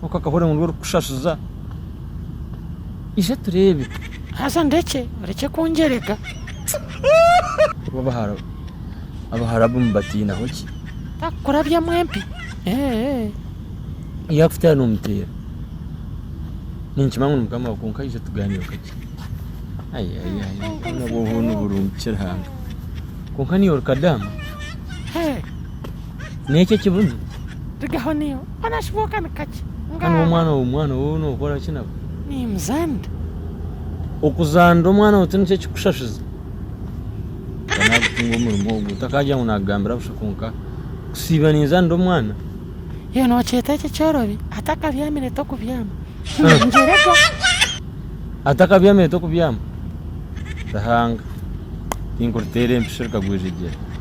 Kwonka akahurira ngu niwe orikukushashuza. Ija tureebe. Haza ndekye, orekye kungyerega. Bo abahara abahara bo mubatiinaho ki? Taakukurabyamu empi, eeh. Yaakutera noomuteera. Ninkimanya ngu nimukama waawe kwonka ija tugaanireho kakye. Ai ai ai ai ai nabwo obwo noburungi ki Ruhanga. Kwonka niiwe orikadaama? Hee. N'ekyo ekibunu? Rigaho niiwe. Hanu omwana owu mwana owu nokora ki nawe? Nimuzanira. Okuzanira omwana owu tinikyo ekikushashuza? Nka nagutunga omurimo ogu takagira ngu nagambira busha kwonka kusiiba ninzanira omwana. Iwe nokyeta ekyo ekyorobi? Atakabyamire tokubyama. Atakabyamire tokubyama? Ruhanga tinkuriteera empisho reka gwijegyere.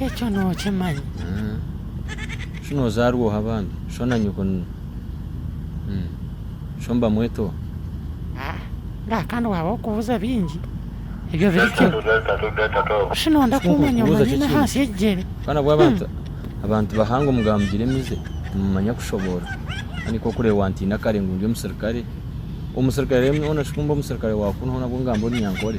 Ekyo nookimanya. Shi noozaarwa oha bambi? Sho na nyoko ni sho mbamweta oha? Ngaha kandi waaba orikubuuza bingi, ebyo biri gye. Shi nooyenda kummanya omanyine ahansi y'ekigyere? Abaana bw'abantu, abantu bahanga omu ga mugira emize, nimumanya kushoboorora. Kandi nk'oku orikureeba wantiina kare ngu ndi omusirikare, omusirikare reero nyowe nashusha ku ndi omusirikare wa kunu hoona abu ngamba ori nyankore.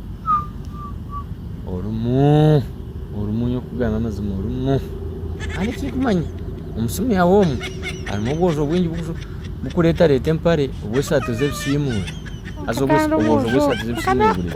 orimu orimu nyowe kukugambira amazima orimu kandi ekirikumanya omusumi aho omu harimu obwojo bwingi bukuretareta empare obwesati zebisiimura haza obwojo bwesati zebisiimura buregi